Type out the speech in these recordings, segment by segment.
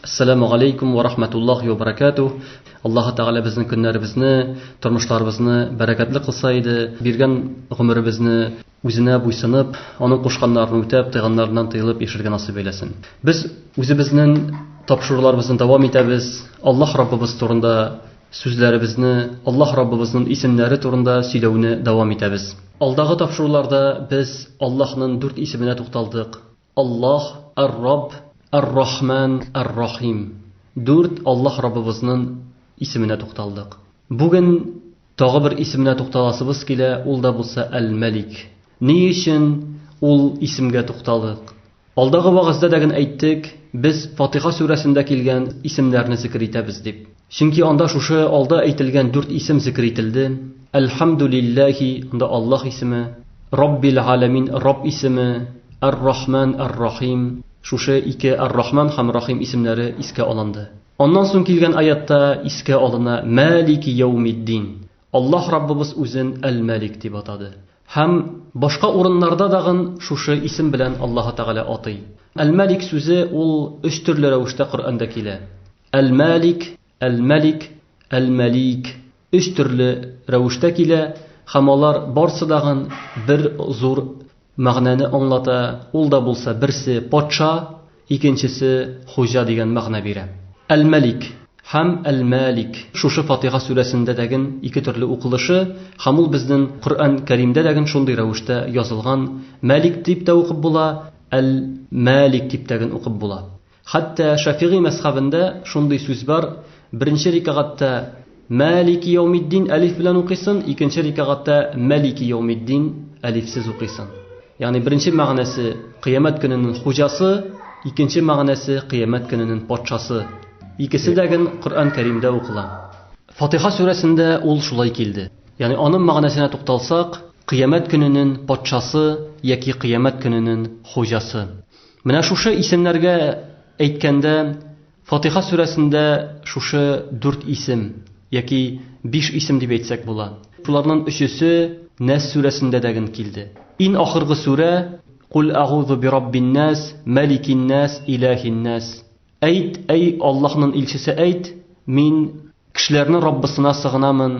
Ассаламу алейкум ва рахматуллахи ва баракатух. Аллаһу Тәгалә безнең көннәребезне, тормышларыбызны бәрәкәтле кылса иде, биргән гомеребезне үзенә буйсынып, аның кушканнарын үтәп, тыйганнарыннан тыелып яшәргә насыйп әйләсен. Без үзебезнең тапшыруларыбызны дәвам итәбез. Аллаһ Раббыбыз турында сүзләребезне, Аллаһ Раббыбызның исемнәре турында сөйләүне дәвам итәбез. Алдагы тапшыруларда без Аллаһның дүрт исеменә тукталдык. Аллаһ, Ар-Рабб, Ар-Рахман, Ар-Рахим, дүрт Аллаһ Раббыбызнын исеменә тукталдык. Бүген тагы бер исеменә тукталасыбыз килә, ул да булса Әл-Мәлик. Ни өчен ул исемгә тукталык? Алдагы вәгазьдә дә гэн әйттек, без Фатиха сүрәсендә килгән исемнәрне зикер итәбез дип. Чөнки анда шушы алда әйтелгән дүрт исем зикер ителде, Әл-Хәмдүлилләһи, анда Аллаһ исеме, Раббил-Галәмин, Рабб исеме, Әр-Рахмән, Әр-Рахим, шушы ике Әр-Рахмән һәм Рахим исемнәре искә алынды. Аннан соң килгән аятта искә алына Мәлики йәүмид-дин, Аллаһ Раббыбыз Үзен Әл-Мәлик дип атады. Һәм башка урыннарда дагын шушы исем белән Аллаһы Тәгалә атый. Әл-Мәлик сүзе ул өч төрле рәвештә Коръәндә килә. Әл-Мәлик, Әл-Мәлик, Әл-Мәлик өч төрле рәвештә килә һәм алар барсы дагын бер зур мәгънәне аңлата, ул да булса берсе, патша, икенчесе, хуҗа дигән мәгънә бирә. Әл-Мәлик һәм Әл-Мәлик шушы Фатиха сүрәсендә дәген ике төрле укылышы һәм ул безнен Коръән Кәримдә дәген шундый рәвештә язылган, Мәлик дип тә укып була, Әл-Мәлик дип тәген укып була. Хәтта Шәфигый мәзхәбендә шундый сүз бар, беренче рикагатьтә Мәлики яумиддин әлиф белән укыйсын, икенче рикагатьтә Мәлики яумиддин әлифсез укыйсын. Ягъни беренче мәгънәсе Кыямәт көненең хуҗасы, икенче мәгънәсе Кыямәт көненең патшасы. Икесе дә ген Коръән Кәримдә укыла. Фатиха сүрәсендә ул шулай килде. Ягъни аның мәгънәсенә тукталсак, Кыямәт көненең патшасы яки Кыямәт көненең хуҗасы. Менә шушы исемнәргә әйткәндә, Фатыйха сүрәсендә шушы дүрт исем, яки биш исем дип әйтсәк була. Шуларнын өчесе Нәс сүрәсендә дә ген килде. Ин ахыргы сүрә, Куль агузу бираббиннәс, мәликиннәс, иләһиннәс. Әйт, әй Аллаһнын илчесе, әйт, мин кешеләрнен Раббысына сыгынамын,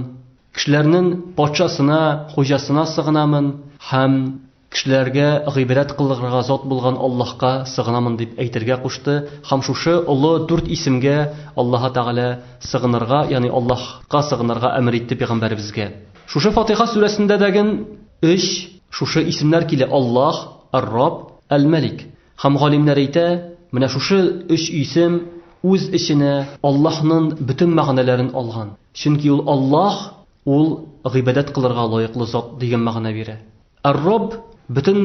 кешеләрнен патшасына, хуҗасына сыгынамын һәм. Кешеләргә гыйбрәт кылырга зат булган Аллаһка сыгынамын дип әйтергә кушты һәм шушы олы дүрт исемгә Аллаһы Тәгалә сыгынырга, ягъни Аллаһка сыгынырга әмер итте пәйгамбәребезгә. Шушы Фатыйха сүрәсендә дәген өч шушы исемнәр килә, Аллаһ, Ар-Рабб, Әл-Мәлик. Һәм галимнәр әйтә, менә шушы өч исем үз эченә Аллаһнын бөтен мәгънәләрен алган, чөнки ул Аллаһ, ул гыйбадәт кылырга лаеклы зат дигән мәгънә бирә. Ар-Рабб, бөтен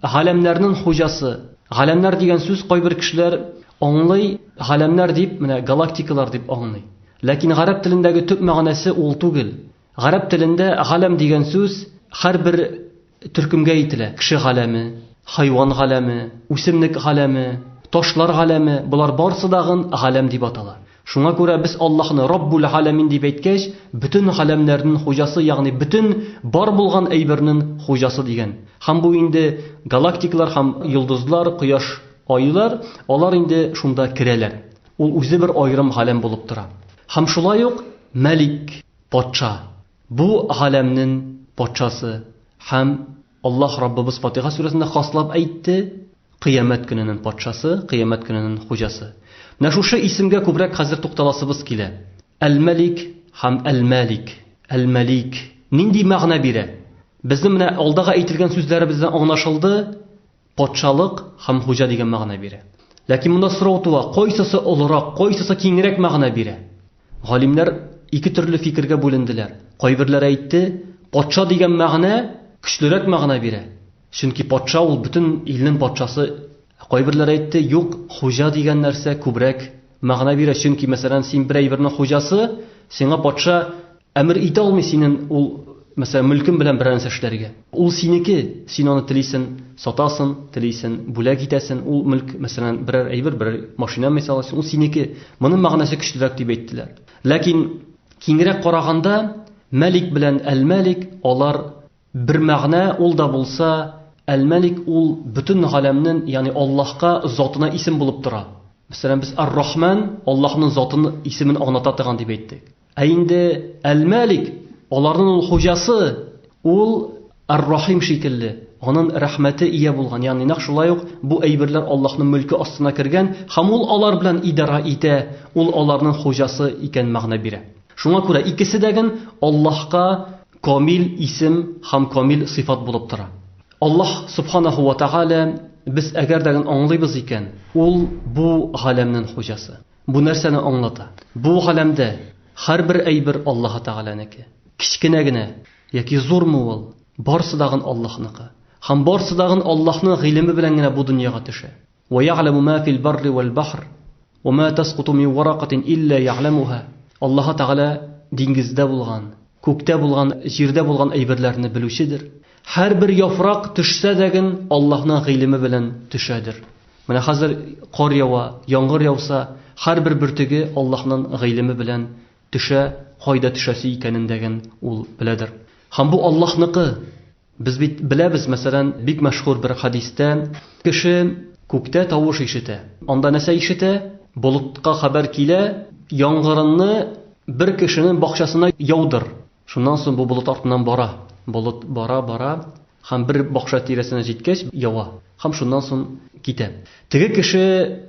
галәмнәрнен хуҗасы. Галәмнәр дигән сүз кайбер кешеләр аңлый, галәмнәр дип, менә галактикалар дип аңлый. Ләкин гарәп телендәге төп мәгънәсе ул түгел. Гарәп телендә галәм дигән сүз һәрбер төркемгә ителә, кеше галәме, хайван галәме, үсемлек галәме, ташлар галәме, болар барсы дагын галәм дип атала. Шуңа күрә без Аллаһны Раббул галәмин дип әйткәч, бөтен галәмнәрнен хуҗасы, ягъни бөтен бар булган әйбернен хуҗасы дигән. Һәм бу инде галактикалар һәм йолдызлар, кояш, айлар, алар инде шунда керәләр. Ул үзе бер аерым галәм булып тора. Һәм шулай ук Мәлик, патша, бу галәмнен патшасы һәм. Аллаһ Раббыбыз Фатиха сүрәсендә хаслап әйтте, Кыямәт көненен Патшасы, Кыямәт көненен Хуҗасы. Менә шушы исемгә күбрәк хәзер тукталасыбыз килә. Әл-Мәлик һәм Әл-Мәлик, Әл-Мәлик нинди мәгънә бирә? Безнең менә алдагы әйтелгән сүзләребездән аңлашылды, Патшалык һәм хуҗа дигән мәгънә бирә. Ләкин монда сорау туа, кайсысы олырак, кайсысы киңрәк мәгънә бирә? Галимнәр ике төрле фикергә бүленделәр. Кайберләр әйтте, патша дигән мәгънә көчлерәк мәгънә бирә, чөнки патша ул бөтен илнең патшасы. Ә кайберләр әйтте, юк, хуҗа дигән нәрсә күбрәк мәгънә бирә, чөнки, мәсәлән, син бер әйбернең хуҗасы, сиңа патша Әмер итә алмый синен ул, мәсәлән, мөлкең белән берәр нәрсә эшләргә. Ул синеке, син аны телисен сатасен, телисен бүләк итәсен, ул мөлк, мәсәлән, берәр әйбер, берәр машина мисал өчен, ул синеке. Моның мәгънәсе көчлерәк дип әйттеләр. Ләкин киңрәк караганда, мәлик белән әл-мәлик, алар бер мәгънә, ул да булса, әл-мәлик ул бөтен галәмнен, ягъни Аллаһка, затына исем булып тора. Мәсәлән, без ар-Рахман, Аллаһның затын, исемен аңлата торган дип әйттек. Ә инде Әл-Мәлик, аларның ул хуҗасы, ул Әр-Рахим шикелле, анын рәхмәте ия булган, ягъни нәкъ шулай ук бу әйберләр Аллаһның мөлке астына кергән һәм ул алар белән идарә итә, ул аларның хуҗасы икән мәгънә бирә. Шуңа күрә икесе дәген Аллаһка камил исем һәм камил сыйфат булып тора. Аллаһ Сөбханаһу вә Тәгалә, без әгәр дәген аңлыйбыз икән, ул бу галәмнен хуҗасы. Бу нәрсәне аңлата? Бу галәмдә һәрбер әйбер Аллаһы Тәгаләнеке. Кечкенә генә яки зурмы ул, барсы дагын Аллаһныкы. Һәм барсы дагын Аллаһның гыйлеме белән генә бу дөньяга төшә. Вә я'ләмү мә фил барри вәл бәхр, вә мә тәскуту мин варакатин илля я'ләмүһа. Аллаһы Тәгалә диңгездә булган, күктә булган, җирдә булган әйберләрне белүчедер. Һәрбер яфрак төшсә дәген Аллаһның гыйлеме белән төшәдер. Менә хәзер кар ява, яңгыр яуса, һәрбер бөртеге Аллаһның гыйлеме белән төшә, кайда төшәсе икәнен дәген Ул беләдер. Һәм бу Аллаһныкы. Без бит беләбез, мәсәлән, бик мәшһүр бер хәдистә, кеше күктә тавыш ишетә. Анда нәрсә ишетә? Болытка хәбәр килә, яңгырны бер кешенең бакчасына яудыр. Шуннан соң бу болыт артыннан бара. Болыт бара, бара һәм бер бакча тирәсенә җиткәч, ява һәм шуннан соң китә. Теге кеше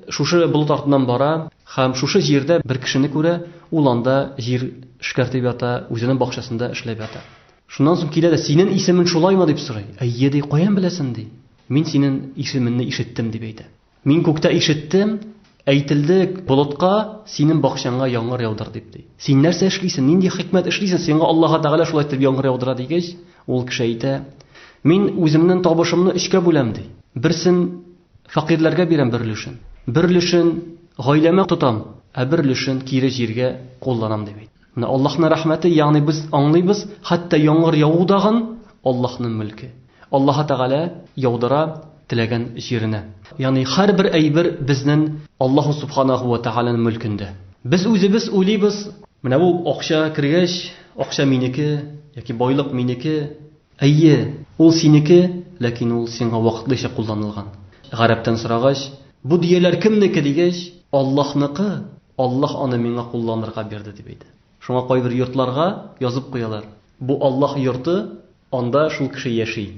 шушы болыт артыннан бара һәм шушы җирдә бер кешене күрә, ул анда җир эшкәртеп ята, үзенең бакчасында эшләп ята. Шуннан соң килә дә, Синең исемең шулаймы? дип сорый. Әйе, ди, каян беләсен? ди. Мин синең исеменне ишеттем, дип әйтә. Мин күктә ишеттем, әйтелде болытка, синен бакчаңа яңгыр яудыр дип, ди. Син нәрсә эшлисен, нинди хикмәт эшлисен, сиңа Аллаһы Тәгалә шулай итеп яңгыр яудыра дигәч, ул кеше әйтә, Мин үземнен табышымны өчкә бүләм, ди. Берсен фәкыйрьләргә бирәм бер өлешен, бер өлешен гаиләмә тотам, ә бер өлешен кире җиргә кулланам, дип әйтә. Менә Аллаһның рәхмәте, ягъни без аңлыйбыз, хәтта яңгыр яву дагын Аллаһның мөлке. Аллаһы Тәгалә яудыра теләгән җиренә. Ягъни һәрбер әйбер безнең Аллаһу Субханаһу вә Тәгаләнең мөлкендә. Без үзебез уйлыйбыз, менә бу акча кергәч, акча минеке яки байлык минеке, Әйе, ул синеке, ләкин ул сиңа вакытлыча кулланылган. Гарәптән сорагач, Бу дөяләр кемнеке? дигәч, Аллаһныкы, Аллаһ аны миңа кулланырга бирде, дип әйтә. Шуңа кайбер йортларга язып куялар, Бу Аллаһ йорты, анда шул кеше яши.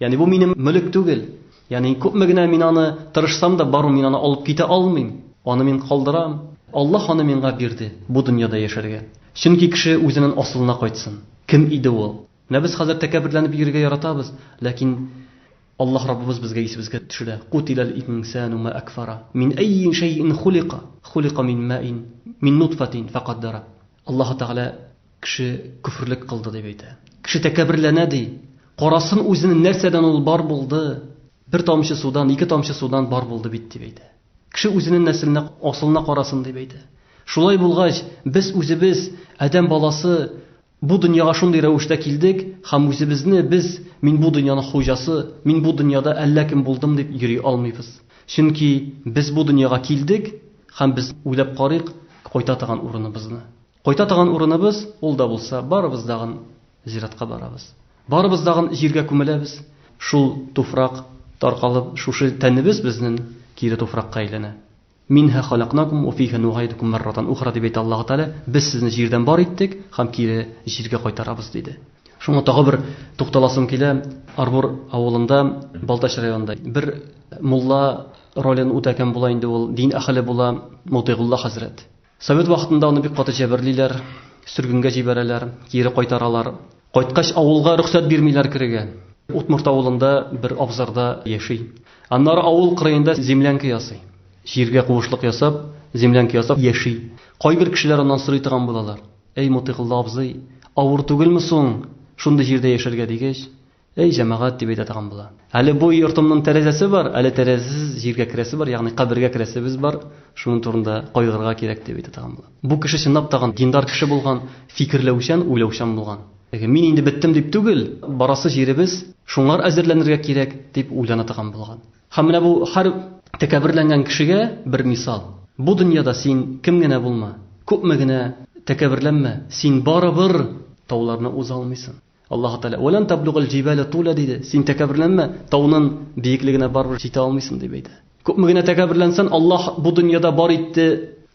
Ягъни бу минем мөлек түгел. Ягъни күпме генә мин аны тырышсам да, бармы, мин аны алып китә алмыйм. Аны мин калдырам. Аллаһ аны миңа бирде, бу дөньяда яшәргә. Чөнки кеше үзенең асылына кайтсын. Кем иде ул? Менә без хәзер тәкәбберләнеп йөрергә яратабыз, ләкин Аллаһ Раббыбыз безгә исебезгә төшерә, Кутиләл инсәну мә әкфара, мин әййи шәйин хулика, хулика мин мәин, мин нутфатин фәкаддара. Аллаһы Тәгалә кеше көферлек кылды дип әйтә. Кеше тәкәбберләнә, ди. Карасын үзен, нәрсәдән ул бар булды? Бер тамчы судан, ике тамчы судан бар булды бит, дип әйтә. Кеше үзенең нәселенә, асылына карасын, дип әйтә. Шулай булгач, без үзебез, адәм баласы, Бу дөньяга шундый рәвештә килдек һәм үзебезне без, мин бу дөньяның хуҗасы, мин бу дөньяда әллә кем булдым дип йөри алмыйбыз. Чөнки без бу дөньяга килдек һәм без уйлап карыйк кайта торган урыныбызны. Кайта торган урыныбыз, ул да булса, барыбыз дагын зиратка барабыз. Барыбыз дагын җиргә күмеләбез. Шул туфрак таркалып, шушы тәнебез безнен кире туфракка әйләнә. Минһа халәкнакум вә фиһә нугайдукум мәрратан ухра, дип әйтә Аллаһы Тәгалә, Без сезне җирдән бар иттек һәм кире җиргә кайтарабыз, диде. Шуңа тагы бер тукталасым килә, Арбур авылында, Балтач районында бер мулла ролен үтәгән була инде ул, дин әһеле була, Мотыйгулла хәзрәт. Совет вакытында аны бик каты җәберлиләр, сөргенгә җибәрәләр, кире кайтаралар. Кайткач, авылга рөхсәт бирмиләр керергә. Удмурт авылында бер абзарда яши. Аннары авыл кырыенда землянка ясый. Җиргә куышлык ясап, землянка ясап яши. Кайбер кешеләр аннан сорый торган булалар, Әй, Мотыйкылла абзый, авыр түгелме соң шундый җирдә яшәргә, дигәч, Эй, җәмәгать, дип әйтә торган була. Әле бу йортымның тәрәзәсе бар, әле тәрәзәсез җиргә керәсе бар, ягъни кабергә керәсебез бар, шуның турында кайгырырга кирәк, дип әйтә торган була. Бу кеше чынлап та диндар кеше булган, фикерләүчән, уйлаучан булган. Мин инде беттем дип түгел, барасы җиребез шуңар әзерләнергә кирәк, дип уйлана торган булган. Һәм менә бу һәр тәкәбберләнгән кешегә бер мисал. Бу дөньяда син кем генә булма, күпме генә тәкәбберләнмә, син барыбер тауларны уза алмыйсың. Аллаһу Тәгалә, Вәлән таблугал җибәлә туля, диде. Син тәкәбберләнмә, таунын биеклегенә барыбер җитә алмыйсың, дип әйтә. Күпме генә тәкәбберләнсән, Аллаһ бу дөньяда бар итте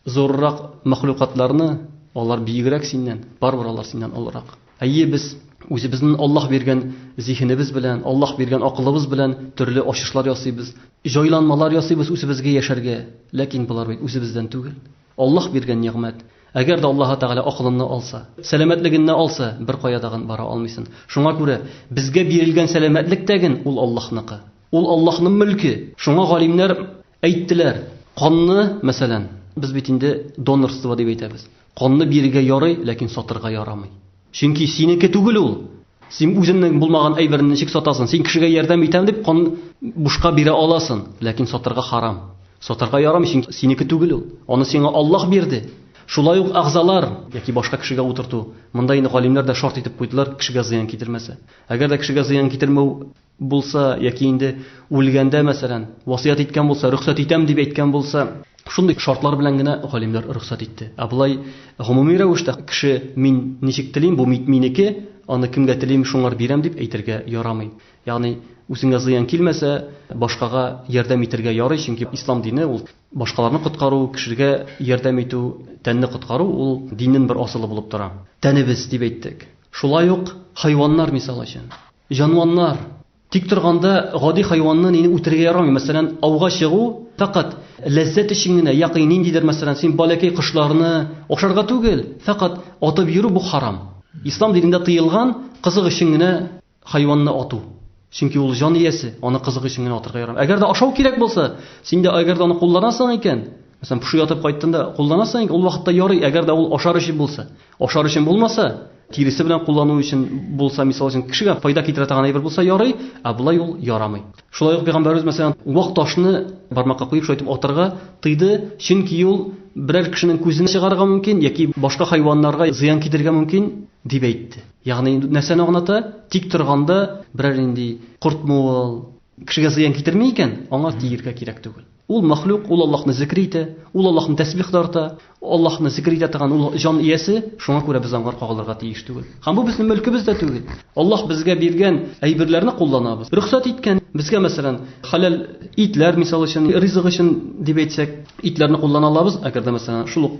зуррак мәхлукатларны, алар биегрәк синнән, барыбер алар синнән олырак. Әйе, без үзебезнен Аллаһ биргән зиһенебез белән, Аллаһ биргән акылыбыз белән төрле ачышлар ясыйбыз, җайланмалар ясыйбыз үзебезгә яшәргә, ләкин болар бит үзебездән түгел. Аллаһ биргән нигъмәт. Әгәр дә Аллаһы Тәгалә акылынны алса, сәламәтлегенне алса, беркая да бара алмыйсын. Шуңа күрә безгә бирелгән сәламәтлек тәген ул Аллаһныкы. Ул Аллаһның мөлке. Шуңа галимнәр әйттеләр, канны, мәсәлән, без бит инде донорство дип әйтәбез. Канны бирергә ярый, ләкин сатырга ярамый. Чөнки синеке түгел ул. Син үзеңнең булмаган әйберне ничек сатасын? Син кешегә ярдәм итәм дип кан бушка бирә аласын, ләкин сатарга харам. Сатарга ярамый, чөнки синеке түгел ул. Аны сиңа Аллаһ бирде. Шулай ук әгъзалар яки башка кешегә утырту. Монда инде галимнәр дә шарт итеп куйдылар, кешегә зыян китермәсә. Әгәр дә кешегә зыян китермәү булса, яки инде үлгәндә, мәсәлән, васыять иткән булса, рөхсәт итәм дип әйткән булса, шундый шартлар белән генә галимнәр рөхсәт итте. Ә болай гомуми рәвештә кеше мин ничек телим, бу мит минеке, аны кемгә телим, шуңар бирәм дип әйтергә ярамый. Ягъни үзеңә зыян килмәсә, башкага ярдәм итергә ярый, чөнки ислам дине ул башкаларны коткару, кешегә ярдәм итү, тәнне коткару ул диннен бер асылы булып тора. Тәнебез дип әйттек. Шулай ук хайваннар мисал өчен. Җанваннар. Тик торганда гади хайванны нени үтерергә ярамый. Мәсәлән, ауга чыгу фәкать ләззәт өчен генә, яки ниндидер, мәсәлән, син баләкәй кошларны ашарга түгел, фәкать атып йөрү бу харам. Ислам динендә тыелган кызык өчен генә хайванны ату. Чөнки ул җан иясе, аны кызык өчен генә атырга ярамый. Әгәр дә ашау кирәк булса, син дә әгәр дә аны кулланасың икән, Мәсәлән, поши атып кайттын да кулланасың, ул вакытта ярый, әгәр дә ул ашар өчен булса. Ашар өчен булмаса, тиресе белән куллану өчен булса, мисал өчен кешегә файда китерә торган әйбер булса ярый, ә болай ул ярамый. Шулай ук пәйгамбәребез мәсәлән, вак ташны бармакка куеп шайтып атырга тыйды, чөнки ул берәр кешенең күзен чыгарырга мөмкин яки башка хайваннарга зыян китерергә мөмкин дип әйтте. Ягъни нәрсәне аңлата? Тик торганда берәр инде кортмы ул, кешегә зыян китерми икән, аңа тиергә кирәк түгел. Ул мәхлук, ул Аллаһны зикер итә, ул Аллаһны тәсбих тарта, Аллаһны зикер итә торган ул җан иясе, шуңа күрә без аңар кагылырга тиеш түгел. Һәм бу безнең мөлкебез дә түгел. Аллаһ безгә биргән әйберләрне кулланабыз. Рөхсәт иткән, безгә мәсәлән, хәләл итләр, мисал өчен, ризык өчен дип әйтсәк, итләрне куллана алабыз, әгәр дә мәсәлән, шул ук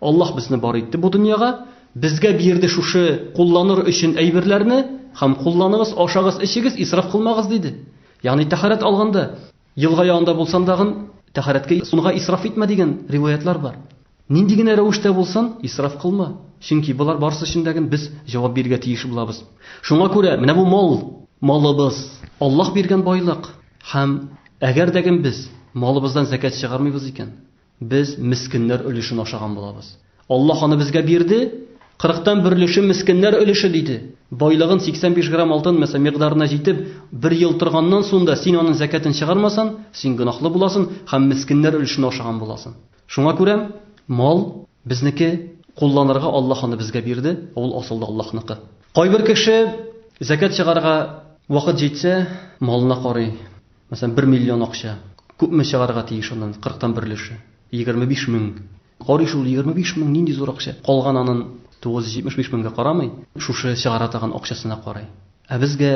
Аллаһ безне бар итте бу дөньяга, безгә бирде шушы кулланыр өчен әйберләрне, һәм кулланыгыз, ашагыз, эчегез, исраф кылмагыз, диде. Ягъни тәһарәт алганда, елга янында булсаң дагын, тәһарәткә суны исраф итмә дигән риваятьләр бар. Нинди генә рәвештә булсын, исраф кылма. Чөнки болар барысы өчен дә без җавап бирергә тиеш булабыз. Шуңа күрә менә бу мал, малыбыз, Аллаһ биргән байлык. Һәм әгәр дә без малыбыздан зәкят чыгармыйбыз икән, Без мескеннәр өлешен ашаган булабыз. Аллаһ аны безгә бирде, кырыктан бер өлеше мескеннәр өлеше, диде. Байлыгын 85 грамм алтын, мәсәлән, микъдарына җитеп, бер ел торганнан соң да син аның зәкятен чыгармасаң, син гөнаһлы буласың һәм мескеннәр өлешен ашаган буласың. Шуңа күрә мал, безнеке, кулланырга Аллаһ аны безгә бирде, ә ул асылда Аллаһныкы. Кайбер кеше, зәкят чыгарырга вакыт җитсә, малына карый. Мәсәлән, бер миллион акча. Күпме чыгарга тиеш аннан, кырыктан бер өлеше? Егерме биш мең. Карый шул, егерме биш мең, нинди зур акча. Калган анын тугыз йөз җитмеш биш меңгә карамый, шушы чыгара торган акчасына карый. Ә безгә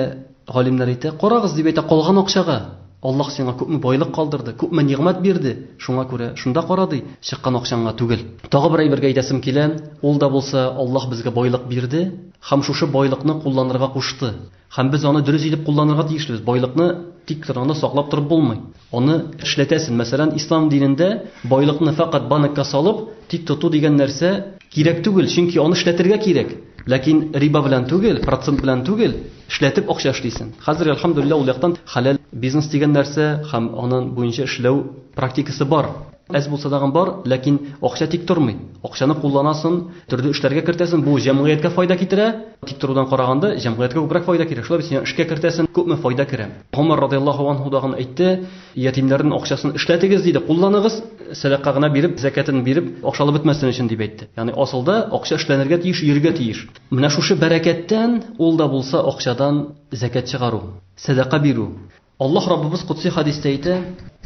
галимнәр әйтә, карагыз, дип әйтә, калган акчага. Аллаһ сиңа күпме байлык калдырды, күпме нигъмәт бирде, шуңа күрә шунда кара, ди, чыккан акчаңа түгел. Тагы бер әйбергә әйтәсем килә, ул да булса, Аллаһ безгә байлык бирде һәм шушы байлыкны кулланырга кушты. Һәм без аны дөрес итеп кулланырга тиешлебез. Байлыкны тик торганда саклап торып булмый. Аны эшләтәсен. Мәсәлән, ислам динендә байлыкны фәкать банкка салып, тик тоту дигән нәрсә кирәк түгел, чөнки аны эшләтергә кирәк. Ләкин риба белән түгел, процент белән түгел, эшләтеп акча эшлисен. Хәзер, әлхәмдүлилләһ, ул яктан хәләл бизнес дигән нәрсә һәм аның буенча эшләү практикасы бар. Әз булса тагын бар, ләкин акча тик тормый. Акчаны кулланасын, төрле эшләргә кертәсен, бу җәмгыятькә файда китерә. Тик торудан караганда, җәмгыятькә күбрәк файда кирәк. Шулай бит, син эшкә кертәсен, күпме файда керә. Гомәр радиаллаһу анһу тагын әйтте, ятимнәрнең акчасын эшләтегез, диде, кулланыгыз, сәдака гына биреп, зәкятен биреп, акчалы бетмәсен өчен, дип әйтте. Ягъни асылда акча эшләнергә тиеш, йөрергә тиеш. Менә шушы бәрәкәттән, ул да булса акчадан зәкят чыгару, сәдака бирү, Аллаһ Раббыбыз Котси хәдистә әйтә,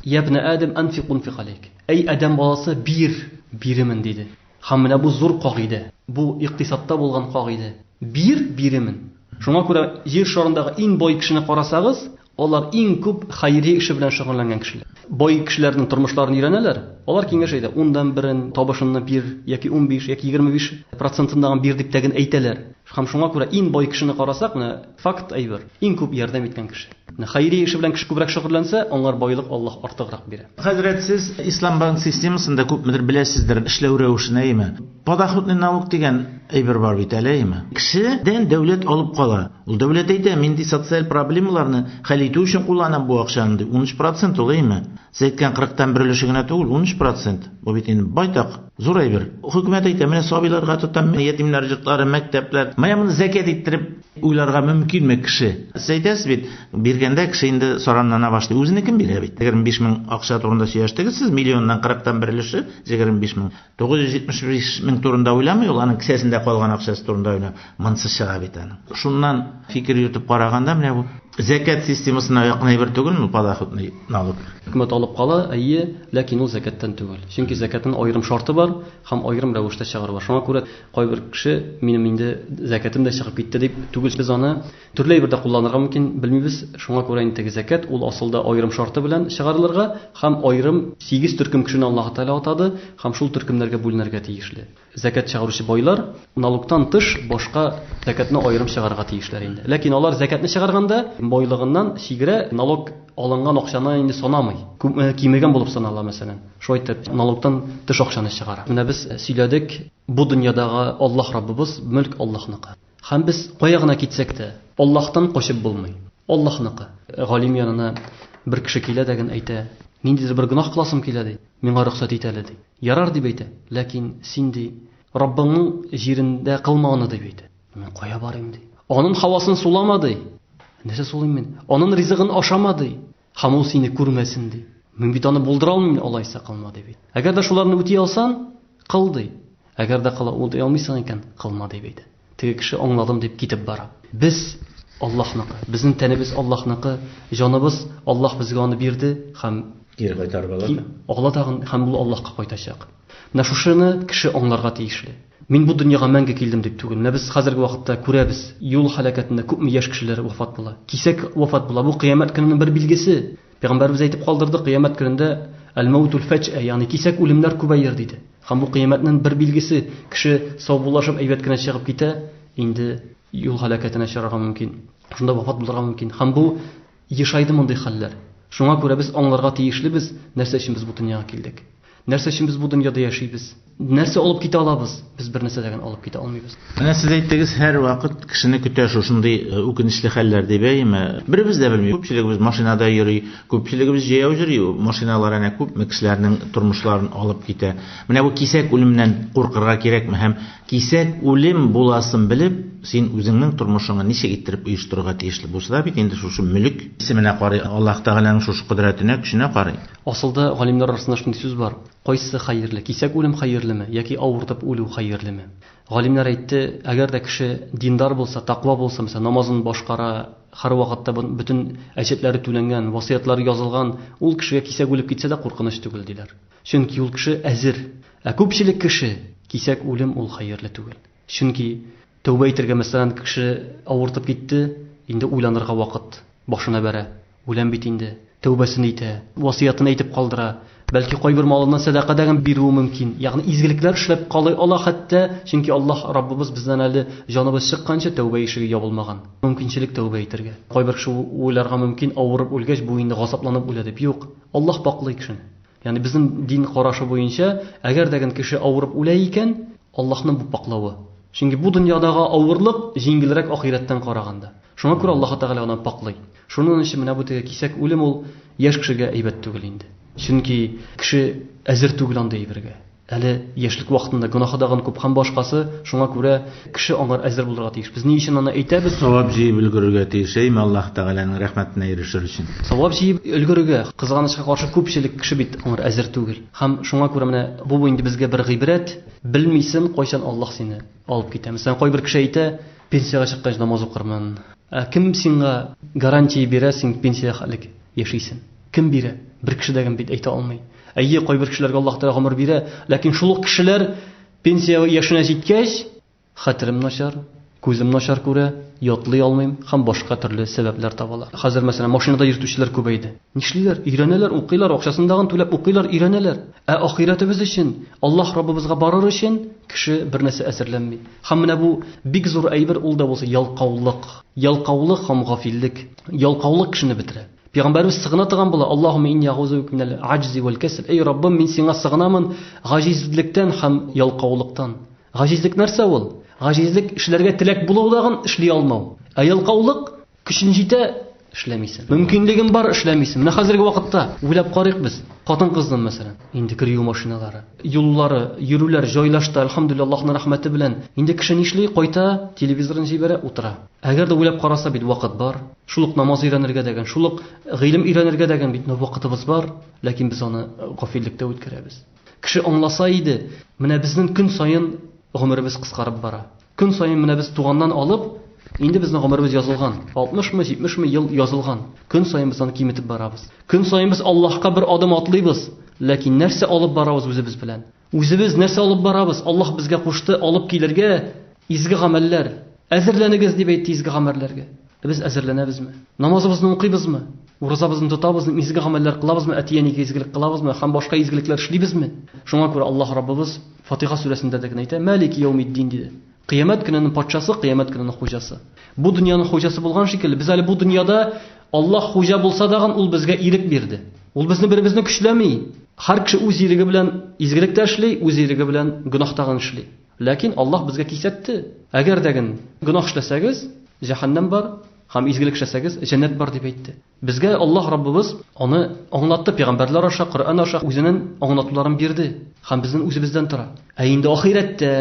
Ябне Адәм анфик унфик алейк. Әй Адәм баласы, бир, биремен, диде. Һәм менә бу зур кагыйдә, бу икътисадта булган кагыйдә. Бир, биремен. Шуңа күрә җир шарындагы иң бай кешене карасагыз, алар иң күп хәйри эше белән шөгыльләнгән кешеләр. Бай кешеләрнең тормышларын өйрәнәләр, алар киңәш әйтә, ундан берен, табышыңны бир, яки унбиш, яки егерме биш процентын да бир дип тә генә әйтәләр. Һәм шуңа күрә иң бай кешене карасак, менә, Факт әйбер, иң күп ярдәм иткән кеше. Менә хәйрия эше белән кеше күбрәк шөгыльләнсә, аңар байлык Аллаһ артыграк бирә. Хәзрәт, сез Ислам банк системасын да күпмедер беләсездер, эшләү рәвешен, әйеме? Подоходный налог дигән әйбер бар бит әле, әйеме? Кешедән дәүләт алып кала. Ул дәүләт әйтә, мин ди социаль проблемаларны хәл итү өчен кулланам бу акчаны ди. Унөч процент ул, әйеме? Сез әйткән кырыктан бер өлеше генә түгел, унөч процент. Бу бит инде байтак. Зур әйбер. Хөкүмәт әйтә, менә сабыйларга тотам, ятимнәр йортлары, мәктәпләр. Менә моны зәкят иттереп уйларга мөмкинме кеше? Сез әйтәсез бит, биргәндә кеше инде сораннана башлый. Үзенә кем бирә бит? 25 мең акча турында сөйләштегез сез, миллионнан кырыктан бер өлеше 25 мең. 975 мең турында уйламый ул, аның кесәсендә калган акчасы турында уйлый. Монсы чыга бит аны. Шуннан фикер йөртеп караганда менә бу зәкәт системасына якын әйбер түгел ме подоходный налог? Хөкүмәт алып кала, әйе, ләкин ул зәкәттән түгел. Чөнки зәкәтнең аерым шарты бар һәм аерым рәвештә чыгару бар. Шуңа күрә кайбер кеше минем инде зәкәтем дә чыгып китте дип түгел. Без аны төрле әйбердә кулланырга мөмкин, белмибез. Шуңа күрә инде теге зәкәт ул асылда аерым шарты белән чыгарылырга һәм аерым сигез төркем кешене Аллаһы Тәгалә атады һәм шул төркемнәргә бүленергә тиешле. Зәкят чыгаручы байлар налогтан тыш башка зәкятне аерым чыгарырга тиешләр инде. Ләкин алар зәкятне чыгарганда байлыгыннан чигерә, налог алынган акчаны инде санамый. Кимегән булып санала, мәсәлән. Шулай итеп, налогтан тыш акчаны чыгара. Менә без сөйләдек, бу дөньядагы Аллаһ Раббыбыз, мөлк Аллаһныкы. Һәм без кая гына китсәк тә, Аллаһтан качып булмый. Аллаһныкы. Галим янына бер кеше килә дә генә әйтә, Ниндидер бер гөнаһ кыласым килә, ди. Миңа рөхсәт ит әле, ди. Ярар дип әйтә, ләкин син, ди, Раббыңның җирендә кылма аны, дип әйтә. Мин кая барыйм, ди. Анын һавасын сулама, ди. Нәрсә сулыйм мин? Анын ризыгын ашама, ди. Һәм ул сине күрмәсен, ди. Мин бит аны булдыра алмыйм, алайса кылма, дип әйтә. Әгәр дә шуларны үти алсаң, кыл, ди. Әгәр дә кыла алмыйсың икән, кылма, дип әйтә. Теге кеше аңладым дип китеп бара. Без, Аллаһныкы. Безнең тәнебез Аллаһныкы, җаныбыз, Аллаһ безгә аны бирде һәм. Кире кайтарып ала да. Ала тагын һәм ул Аллаһка кайтачак. Менә шушыны кеше аңларга тиешле. Мин бу дөньяга мәңге килдем дип түгел. Менә без хәзерге вакытта күрәбез, юл һәлакәтендә күпме яшь кешеләр вафат була. Кисәк вафат була. Бу Кыямәт көненең бер билгесе. Пәйгамбәребез әйтеп калдырды, кыямәт көнендә әл-мәүтул фәҗә, ягъни кисәк үлемнәр күбәер диде. Һәм бу кыямәтнең бер билгесе, кеше саубуллашып әйбәт кенә чыгып китә, инде юл һәлакәтенә очрарга мөмкин. Шунда вафат булырга мөмкин. Һәм бу ешайды мондый хәлләр. Шуңа күрә без аңларга тиешлебез, нәрсә өчен без бу дөньяга килдек. Нәрсә өчен без бу дөньяда яшибез? Нәрсә алып китә алабыз? Без бернәрсә дә генә алып китә алмыйбыз. Менә сез әйттегез, һәрвакыт кешене көтә шушындый үкенечле хәлләр, дип, әйеме? Беребез дә белми. Күпчелегебез машинада йөри, күпчелегебез җәяү йөри. Машиналар әнә күпме кешеләрнең тормышларын алып китә. Менә бу кисәк үлемнән куркырга кирәкме? Һәм кисәк үлем буласын белеп, син үзеңнең тормышыңны ничек иттереп оештырырга тиешле? Бусы да бит инде шушы мөлек исеменә карый, Аллаһ Тәгаләнең шушы кодрәтенә, көченә карый. Асылда, галимнәр арасында шундый сүз бар, Кайсы хәерле, кисәк үлем хәерлеме, яки авыртып үлү хәерлеме? Галимнәр әйтте, әгәр дә кеше диндар булса, такъва булса, мәсәлән, намазын башкара, һәрвакытта бон, бөтен әҗәтләре түләнгән, васыятлары язылган, ул кешегә кисәк үлеп китсә дә куркыныч түгел, диләр. Чөнки ул кеше әзер. Ә күпчелек кеше, кисәк үлем ул хәерле түгел. Чөнки, тәүбә итәргә, мәсәлән, кеше авыртып китте, инде уйланырга вакыт башына бәрә, үләм бит инде, тәүбәсен итә, васыятен әйтеп калдыра, бәлки кайбер малыннан сәдака да бирүе мөмкин, ягъни изгелекләр эшләп калый ала хәтта, чөнки Аллаһ Раббыбыз бездән әле җаныбыз чыкканчы тәүбә ишеге ябылмаган, мөмкинчелек тәүбә итәргә. Кайбер кеше уйларга мөмкин, авырып үлгәч, бу инде газапланып үлә дип. Юк, Аллаһ пакълый кешене. Ягъни безнең дин карашы буенча, әгәр дә гел кеше авырып үлә икән, Аллаһның бу пакълавы. Чөнки бу дөньядагы авырлык җиңелрәк ахирәттән караганда. Шуңа күрә Аллаһы Тәгалә аны пакълый. Шуның өчен менә бу теге кисәк үлем ул яшь кешегә әйбәт түгел инде. Чөнки кеше әзер түгел андый әйбергә. Әле яшьлек вакытында гөнаһы дагын күп һәм башкасы, шуңа күрә кеше аңар әзер булырга тиеш. Без ни өчен аны әйтәбез? Савап җыеп өлгерергә тиеш, әйме, Аллаһ Тәгаләнең рәхмәтенә ирешер өчен. Савап җыеп өлгерергә, кызганычка каршы, күпчелек кеше бит аңар әзер түгел. Һәм шуңа күрә менә бу инде безгә бер гыйбрәт, белмисең, кайчан Аллаһ сине алып китә. Мәсәлән, кайбер кеше әйтә, пенсиягә чыккач намаз укырмын. Ә кем сиңа гарантия бирә, син пенсиягә хәтлек яшисең? Кем бирә? Бер кеше дә гем бит әйтә алмый. Әйе, кайбер кешеләргә Аллаһ Тәгалә гомер бирә, ләкин шул ук кешеләр пенсия яшенә җиткәч, хәтерем начар, күзем начар күрә, ятлый алмыйм һәм башка төрле сәбәпләр табалар. Хәзер, мәсәлән, машинада йөртүчеләр күбәйде. Нишлиләр? Өйрәнәләр, укыйлар, акчасындагын түләп укыйлар, өйрәнәләр. Ә ахирәтебез өчен, Аллаһ Раббыбызга барыр өчен кеше бернәрсә әзерләнми. Һәм менә бу бик зур әйбер ул да булса ялкаулык. Ялкаулык һәм гафиллек. Ялкаулык кешене бетерә. Пәйгамбәрбез сыгына торган була, Аллаһуммә инни әгъузу бика минәл аҗзи вәл кәсл. Әй Раббым, мин сиңа сыгынамын гаҗизлектән һәм ялкаулыктан. Гаҗизлек нәрсә ул? Гаҗизлек, эшләргә теләк булу дагын эшли алмау. Ә ялкаулык, көчең җитә, эшләмисең. Мөмкинлегең бар, эшләмисең. Менә хәзерге вакытта уйлап карыйк без, хатын-кызны, мәсәлән, инде кер юу машиналары, юллары, йөрүләр җайлашты, әлхәмдүлиллаһ, Аллаһның рәхмәте белән. Инде кеше нишли, кайта, телевизорын җибәрә, утыра. Әгәр дә уйлап караса бит, вакыт бар. Шул ук намаз өйрәнергә дә гын, шул ук гыйлем өйрәнергә дә гын бит ны вакытыбыз бар, ләкин без аны гафиллектә үткәрәбез. Кеше аңласа иде, менә безнең көн саен гомеребез кыскарып бара. Көн саен менә без туганнан алып, инде безнең гомеребез язылган, 60 мы, 70 мы ел язылган. Көн саен без аны киметеп барабыз. Көн саен без Аллаһка бер адым атлыйбыз, ләкин нәрсә алып барабыз үзебез белән? Үзебез нәрсә алып барабыз? Аллаһ безгә кушты алып килергә изге гамәлләр. Әзерләнегез дип әйтте изге гамәлләргә. Ә без әзерләнәбезме? Намазыбызны укыйбызмы? Уразабызны тотабызмы? Изге гамәлләр кылабызмы? Әти-әнигә изгелек кылабызмы? Һәм башка изгелекләр эшлибезме? Шуңа күрә Аллаһ Раббыбыз Фатиха сүрәсендә дә генә әйтә, Мәлики яумиддин диде. Кыямәт көненең патшасы, кыямәт көненең хуҗасы. Бу дөньяның хуҗасы булган шикелле, без әле бу дөньяда Аллаһ хуҗа булса дагын, ул безгә ирек бирде. Ул безне беребезне көчләми. Һәр кеше үз иреге белән изгелек тә эшли, үз иреге белән гөнаһ тагын эшли. Ләкин Аллаһ безгә кисәтте. Әгәр дә гөн гөнаһ эшләсәгез, җәһәннәм бар, һәм изгелек эшләсәгез, җәннәт бар, дип әйтте. Безгә Аллаһ Раббыбыз аны аңлатты, пәйгамбәрләр аша, Коръән аша үзенен аңлатуларын бирде. Һәм безнен үзебездән тора. Ә инде ахирәттә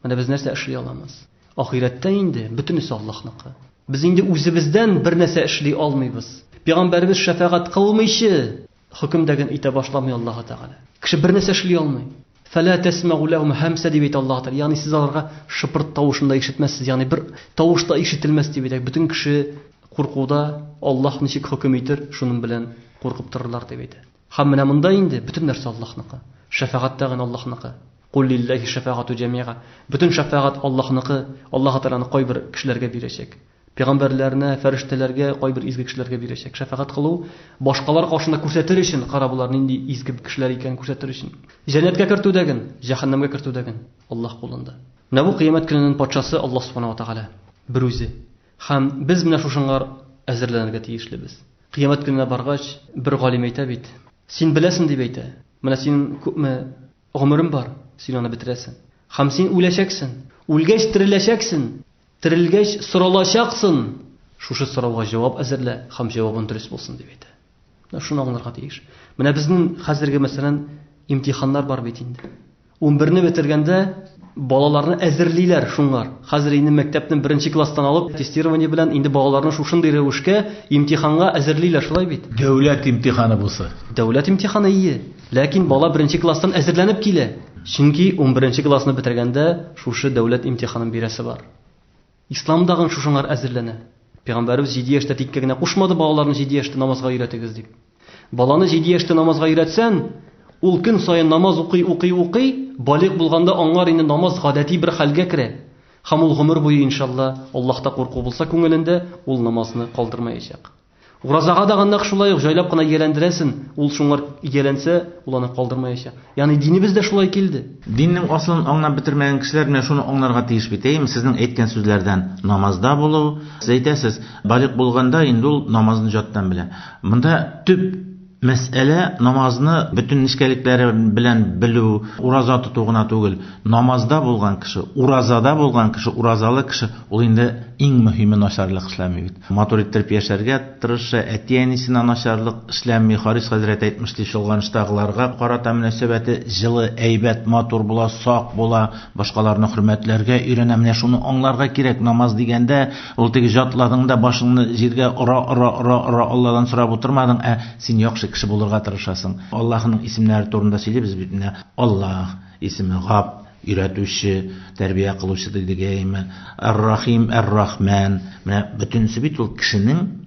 менә без нәрсә эшли аламыз? Ахирәттә инде бөтенесе Аллаһныкы. Без инде үзебездән бернәрсә эшли алмыйбыз. Пәйгамбәребез шәфәгать кылмыйчы, Хөкем дә гел итә башламый Аллаһы Тәгалә. Кеше бер нәрсә эшли алмый. Фәлә тәсмәгу ләһүм һәмсә дип әйтә Аллаһы Тәгалә. Ягъни сез аларга шыпырт тавышын да ишетмәссез. Ягъни бер тавыш та ишетелмәс дип әйтә. Бөтен кеше куркуда, Аллаһ ничек хөкем итер, шуның белән куркып торырлар дип әйтә. Һәм менә монда инде бөтен нәрсә Аллаһныкы. Шәфәгать тә гел Аллаһныкы. Кул лилләһи шәфәгату җәмига. Бөтен шәфәгать Аллаһныкы. Аллаһы Тәгаләне кайбер кешеләргә бирәчәк. Пәйгамбәрләренә, фәрештәләргә, кайбер изге кешеләргә бирәчәк. Шәфәгать кылу, башкалар каршында күрсәтер өчен, кара болар нинди изге кешеләр икәнен күрсәтер өчен. Җәннәткә кертү дә ген, җәһәннәмгә кертү дә ген Аллаһ кулында. Менә бу Кыямәт көненен патшасы Аллаһ Субхана ва Тәгалә берүзе. Һәм без менә шушыңар әзерләнергә тиешлебез. Кыямәт көненә баргач, бер галим әйтә бит, Син беләсен дип әйтә. Менә син күпме Гомерем бар, син аны бетерәсен. Хәм син үләчәксен. Үлгәч тереләчәксен. Терелгәч соралачаксын. Шушы сорауга җавап әзерлә хәм җавабын дөрес булсын, дип әйтә. Менә шуны аңларга тиеш. Менә безнең хәзерге мәсәлән имтиханнар бар бит инде. Унберне бетергәндә балаларны әзерлиләр шуңар. Хәзер инде мәктәпнең беренче класстан алып тестирование белән инде балаларны шушындый рәвешкә имтиханга әзерлиләр, шулай бит? Дәүләт имтиханы бусы. Дәүләт имтиханы, ие. Ләкин бала беренче класстан әзерләнеп килә. Чөнки унберенче классны бетергәндә шушы дәүләт имтиханын бирәсе бар. Исламда гын шушыңар әзерләнә. Пигамбәребез җиде яшьтә тиккә генә кушмады балаларны җиде яшьтә намазга өйрәтегез дип. Баланы җиде яшьтә намазга өйрәтсән, ул көн саен намаз укый, укый, укый, балигъ булганда аңар инде намаз гадәти бер хәлгә керә. Һәм ул гомер буе, иншалла, Аллаһта курку булса күңелендә, ул намазны калдырмаячак. Уразага да гыннак шулай ук җайлап кына ияләндерәсен, ул шуңар ияләнсә, ул аны калдырмаячак. Ягъни динебез дә шулай килде. Диннең асылын аңлап бетермәгән кешеләр менә шуны аңларга тиеш бит, әйеме, сезнең әйткән сүзләрдән, намазда булу, сез әйтәсез, балигъ булганда инде ул намазын җаттан белә. Монда төп. Мәсьәлә намазны бөтен нечкәлекләре белән белү, ураза тоту гына түгел. Намазда булган кеше, уразада булган кеше, уразалы кеше, ул инде иң мөһиме начарлык эшләми бит. Матур иттереп яшәргә тырыша, әти-әнисенә начарлык эшләми. Харис хәзрәт әйтмеш, ди, чолганыштагыларга карата мөнәсәбәте җылы, әйбәт, матур була, сак була, башкаларны хөрмәтләргә өйрәнә. Менә шуны аңларга кирәк, намаз дигәндә, Ул теге җатладың да башыңны җиргә ора, ора, ора, ора, Алладан сорап утырмадың, ә син яхшы кеше булырга тырышасың. Аллаһының исемнәре турында сөйлибез бит менә. Аллаһ исеме гап, өйрәтүче, тәрбия кылучы дидегәйме. Әр-Рахим, Әр-Рахмән. Менә бөтенесе бит ул кешенең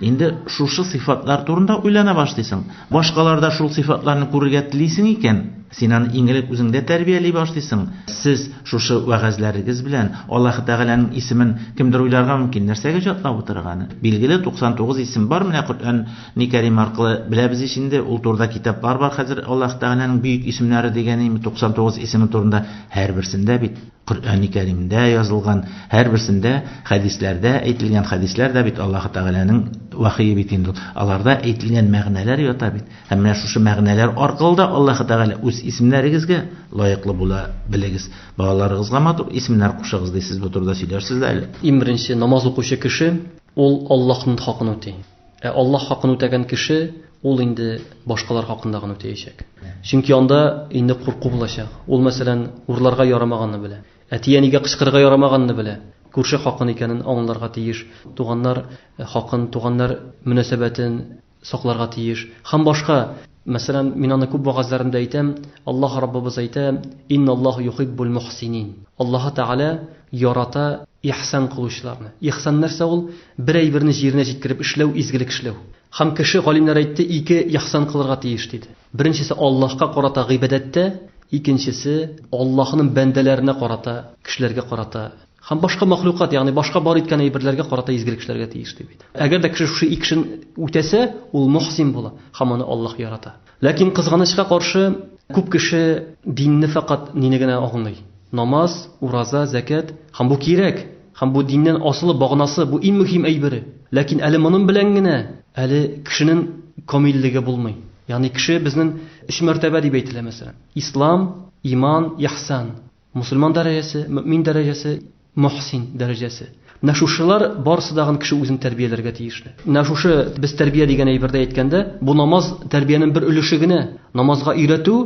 Инде шушы сыйфатлар турында уйлана башлыйсың. Башкаларда шул сыйфатларны күрергә телисең икән, син аны иң элек үзеңдә тәрбияли башлыйсың. Сез шушы вәгазьләрегез белән Аллаһы Тәгаләнең исемен кемдер уйларга мөмкин, нәрсәгә җатлап утырыр аны? Билгеле, 99 исем бар, менә Коръәни Кәрим аркылы беләбез ич инде, ул турыда китаплар бар хәзер Аллаһы Тәгаләнең бөек исемнәре дигән, 99 исеме турында, һәрберсендә бит. Коръәни Кәримдә язылган, һәрберсендә хәдисләрдә әйтелгән, хәдисләр дә бит Аллаһы Тәгаләнең вәхие бит инде ул. Аларда әйтелгән мәгънәләр ята бит. Һәм менә шушы мәгънәләр аркылы да Аллаһы Тәгалә, Үз исемнәрегезгә лаеклы була белегез, балаларыгызга матур исемнәр кушыгыз, ди. Сез бу турыда сөйләрсез дә әле. Иң беренче, намаз укучы кеше, ул Аллаһның хакын үти. Ә Аллаһ хакын үтәгән кеше, ул инде башкалар хакында гына үтәячәк. Чөнки анда инде курку булачак. Ул, мәсәлән, урларга ярамаганны белә. Әти-әнигә кычкырырга ярамаганны белә. Күрше хакын икәнен аңларга тиеш. Туганнар хакын, туганнар мөнәсәбәтен сакларга тиеш. Һәм башка Мәсәлән, мин аны күп вәгазьләремдә әйтәм, Аллаһ Раббыбыз әйтә, Инналлаһу юхиббул мухсинин. Аллаһы Тәгалә ярата ихсан кылучыларны. Ихсан нәрсә ул? Бер әйберне җиренә җиткереп эшләү, изгелек эшләү. Һәм кеше, галимнәр әйтте, ике ихсан кылырга тиеш, диде. Беренчесе Аллаһка карата гыйбадәттә, икенчесе Аллаһның бәндәләренә карата, кешеләргә карата. Һәм башка мәхлукат, ягъни башка бар иткән әйберләргә карата изгелек эшләргә тиеш, ди бит. Әгәр дә кеше шушы икешен үтәсә, ул мөхсин була һәм аны Аллаһ ярата. Ләкин, кызганычка каршы, күп кеше динне фәкать нине генә аңлый, намаз, ураза, зәкят, һәм бу кирәк, һәм бу диннән асылы, баганасы, бу иң мөхим әйбере. Ләкин әле монын белән генә әле кешенен камиллеге булмый. Ягъни кеше безнен өч мәртәбә дип әйтелә, мәсәлән, Ислам, иман, иһсан. Мөселман дәрәҗәсе, мөэмин дәрәҗәсе, мөхсин дәрәҗәсе. Менә шушылар барысы да гын кеше үзен тәрбияләргә тиешле. Менә шушы без тәрбия дигән әйбердә әйткәндә, бу намаз тәрбиянең бер өлеше генә. Намазга өйрәтү